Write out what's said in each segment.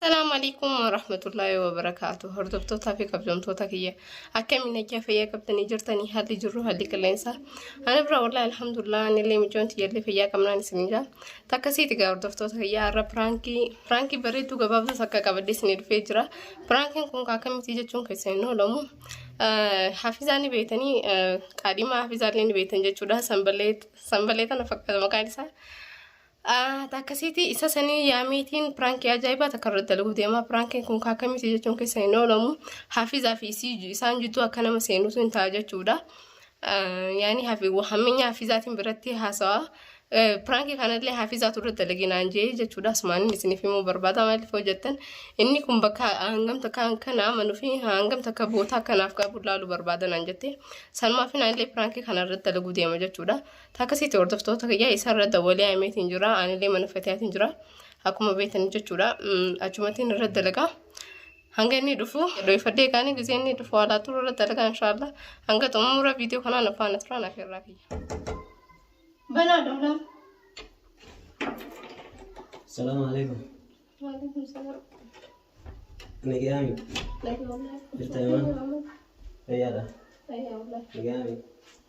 Assalamu alaikum wa rahmatullahi wa barakatuh. Hordoftoota fi kabajamtoota kiyya akkamiin nagaa fayyaa qabdanii jirtanii haalli jirru haalli qilleensa. Ani bira wallahi alhamdulillah anillee mijoon tiyyallee fayyaa qabnaan isin jira. Takka siiti gaa hordoftoota kiyya har'a piraankii piraankii bareedduu gabaabduu takka qabadhee isin dhufee jira. Piraankiin kun akkamitti jechuun keessan hin oolamu. Hafizaa ni beektanii qaadhimaa hafizaallee ni beektan jechuudha. Sanbalee sanbalee tana fakkaata maqaan isaa. Akkasiiti isa sanii yaamiitiin piraankii ajaa'ibaa takka irratti dalaguu deema. Piraankiin kun kaakamiiti jechuun keessa hin oolamu. Hafizaa fi isaan jidduu akka nama seenutu hin ta'a jechuudha. Yaani hammeenya hafizaatiin biratti haasawa. Piraankii kanallee hafizaatu irratti dalagee naan jee jechuudha. Asumaan isiniif himuu barbaada maaliif hojjettan. Inni kun bakka hangam takka kana amanuu fi hangam takka bootaa kanaaf qabu ilaaluu barbaada naan jette. Sanumaaf naallee piraankii kana irratti dalaguu deema jechuudha. Takka sitti hordoftoota kiyyaa isarra dawalee ameetiin jira anillee mana fatiyaatiin jira akkuma beektan jechuudha achumattiin irra dalagaa hanga inni dhufu dhoofadhee kaanii gisee inni dhufu alaa turu irra dalagaa inshaallah hanga xumura viidiyoo kanaa na faana turaa naaf irraa kiyya. Banaa dhoolaa. Salaam alaikum. Waalaikum salaam. Nagayaami. Nagawalaa. Jirta yaman? Fayyaadha. Nagawalaa. Nagayaami.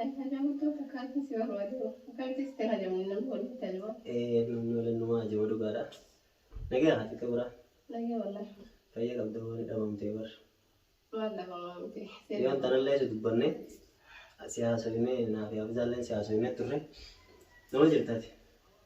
Ani hajamtuu fakanti si barbaduu fakanti siti hajamu nan kolfi tajba. Ee namni waliin numa hajama dhugaadha Nagaya haati kibra. Nagaya wallahi. Fayya qabda wani dhabamte bar. Maal dhabamaa miti. Yoon tanallee si dubbanne si haasofne naafi hafizaalleen si haasofne turre nama jirtati.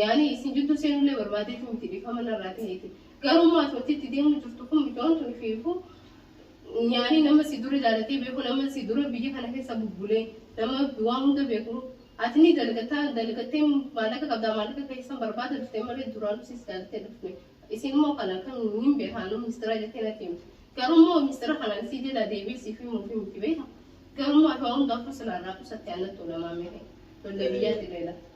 Yaani isin jidduu seenullee barbaadeetu miti dhiifama narraa taheeti. Garuu immoo ati wanti itti deemuu jirtu kun micoon tun ifiifuu yaani nama si dura jaalatee beeku nama si dura biyya kana keessa bubbulee nama waan hunda beeku ati ni dalgataa dalgattee maallaqa qabdaa maallaqa keessan barbaada dhuftee malee duraanuu sis jaalattee dhufte isin immoo kana kan hin beekaanu mistira jettee natti himte. Garuu immoo mistira kanaan si jalaa deebi'ee siif himuu fi miti beeka. Garuu immoo ati waan hundaafuu silaa irraa qusatte anatti ulamaa mehe. Lollee biyyaatti leela.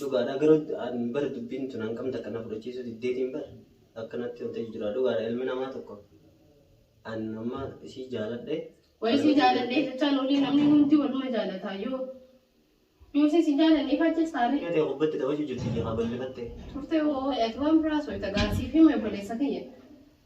Dhugaadha garuu an bar dubbiin tun hangam takka na fudhachiisuu diddeetiin bar akkanatti wanta jijjiraa dhugaadha ilmi namaa tokko an amma isii jaaladhe Wayii si jaaladhee jechaan olii namni hundi waluma jaalataa yoo yoo si si jaalanneef achi saaree Yaa ta'e gubbatti dabachu jirti yaa ballifatte. turte hoo ati waan biraa soita gaasiif hime obboleessa kiyya.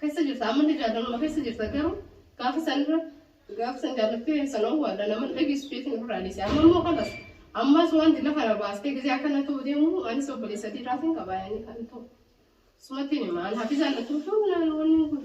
kessa jirta amma illee jaalaluma kessa jirta garuu gaafa san irra gaafa san jaalattee san owwaadha nama dhageessu jeetiin ofirraa dhiise amma immoo kanas ammas waan dila kana baastee gizee akkana ta'u deemu anis obboleessa dhiiraatiin qabaa yaanii kan ta'u sumattiin hima an hafizaan na tuutuun naan wanni kun.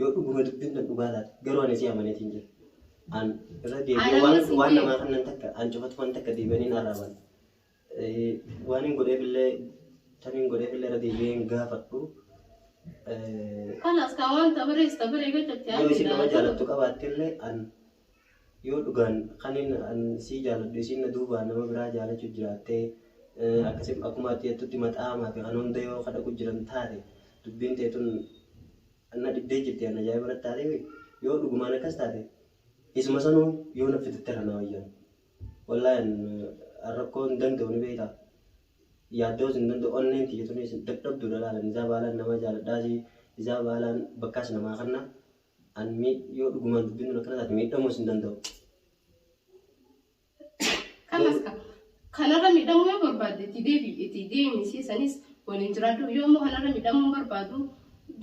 Yoo dhuguma dubbiin tan dhugaa taate garuu ani si amaneetiin jira. An irra deebi'ee Ana waan miti waan jee. namaa kannan takka an cufatu waan takka deebi'anii hin arraaban. Eh, Waan hin godheefillee tan hin godheefillee irra deebi'ee hin gaafadhu. Eh, Kalas kaa waan tabirees tabiree gachatti Yoo isin nama jaalattu qabaattillee an Yoo dhugaan kanin an sii jaaladhu isiin na duubaan nama biraa jaalachu jiraatte akkasi akkuma ati jettutti maxaama fi kan hunda yoo ka dhaqu jiran taate dubbiin tee tun na dhibdee jirti an ajaa'iba natti taateefi yoo dhugumaan akkas taate isuma sanuu yoo na fidatte irra na wayya wallahi an an rakkoo hin danda'u ni beektaa yaaddoos hin danda'u onneen tiyya tunis dadhabduudha laala nizaa baalaan namaa jaaladhaasi nizaa baalaan bakkaas namaa kanna An miid yoo dhugumaan dubbiin tun akkana taate miidhamuus hin danda'u. Kanas ka kanarra miidhamuu yoo barbaadde itti deebi itti deemi si sanis waliin jiraadhu yoo immoo kanarra miidhamuu hin barbaadu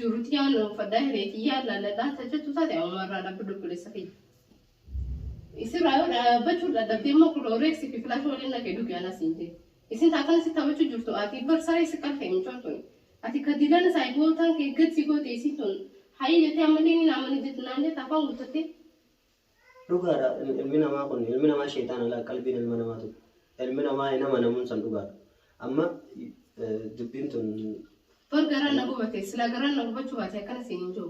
jirutti yaanu uffadhaa hiree kiyyaa laalladhaa tajjattu taate amuma irraa dhaabbi dubbileessa kiyya. Isirraa yoo dhaabbachuu dadhabde immoo kunoo reeksi fi filaasha waliin na keedu kiyana siin jee. Isin taakana si taphachuu jirtu ati bar saree si qalfe micoon tuni. Ati ka dilana saahibootaan kee gad si goote isin tun hayii jetee ammallee ni naamani jette naan jette afaan guuttattee. Dhugaadha ilmi namaa kun ilmi namaa sheexaana laa qalbiin ilma namaa tun ilmi namaa hin amanamuun san dhugaadha. Amma dubbiin tun. Bar garaan na gubate silaa garaan na gubachuu baate akkana siin hin ja'u.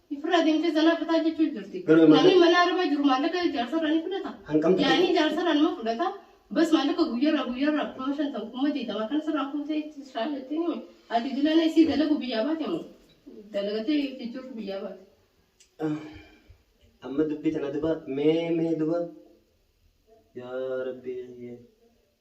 Ifirraa deemtee zanaa fataa jechuu jirti. Garuu amma- Namni mana arabaa jiru maallaqa jaarsarraa ni fudhata. Hanqamtu- Yaanii jaarsarraa nama fudhata. Bas maallaqa guyyarraa guyyarraa kuma shantam kuma digdama kan sirraa fuutee itti shaa jettee himi. Ati dilana isii dalagu biyyaa baate moo? Dalagatee itti jirtu biyyaa baate. Ah, Amma dubbii tana duba mee mee duba yaa rabbii.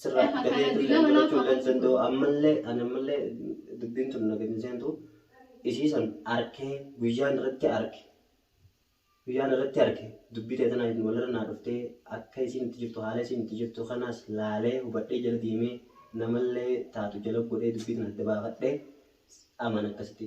sirraa Lafa gadee kana tulleen dila barachuu lafa illee hin kana danda'u ammallee ani ammallee dubbiin tun nagatti hin seentu isii san arkee guyyaan irratti arke guyyaan irratti arke dubbii ta'e tanaa hin walirra naa dhuftee akka isiin itti jirtu haala isiin itti jirtu kanaas laalee hubadhee jala deemee namallee taatu jala godhee dubbii tana adda baafadhee amaan akkasitti.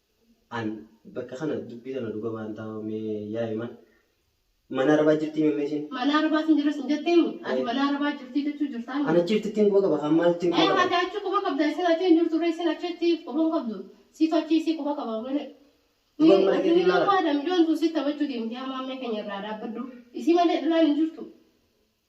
An bakka kana dubbii tana dhuga baan taa mee yaa iman mana arabaa jirtii mee meeshin. Mana arabaa sin jira sin jettee mu ati mana arabaa jirtii jechuu jirtaa mi. An achi jirti ittiin quba qaba kaan maal ittiin quba qaba. Ati achi quba qabda isin achi hin jirtu ree isin achi itti quba hin qabdu siitu achi isii quba qaba wani. Duban mana keetii ilaala. Ni barbaada mijoon tun sitti taphachuu deemti yaa maammee keenya irraa dhaabbadhu isii malee dhalaan hin jirtu.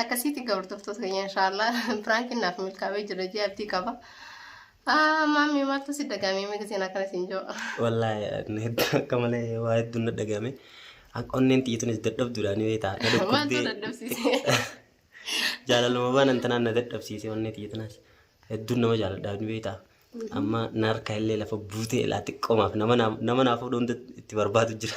akkasiiti egaa hordoftoota keenya inshaallah piraankiin naaf milkaa'ee jira jee abdii qaba. Ah, Maammi maaltu si dagaamee miga seenaa kana siin jiru. Wallaahi ani hedduu akka malee waa hedduu na dhagame. Akka onneen xiyyeetunis dadhabduudha ni beektaa. Na Maaltu dhukkubdee dadhabsiisee? jaalaluma waan antanaan na dadhabsiise onnee xiyyeetunas. Hedduun nama jaaladhaa ni beektaa. Amma na harka illee lafa buutee ilaa xiqqoomaaf nama naa- nama naa fuudhuun itti barbaadu jira.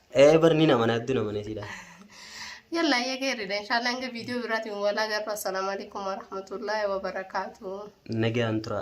Ee bar ni namana heddu namana siidha. Yalla ayya geerridha inshallah hanga viidiyoo biraatiin walaa garru assalaamu alaikum warahmatullahi wabarakaatuh. Nagaan tura.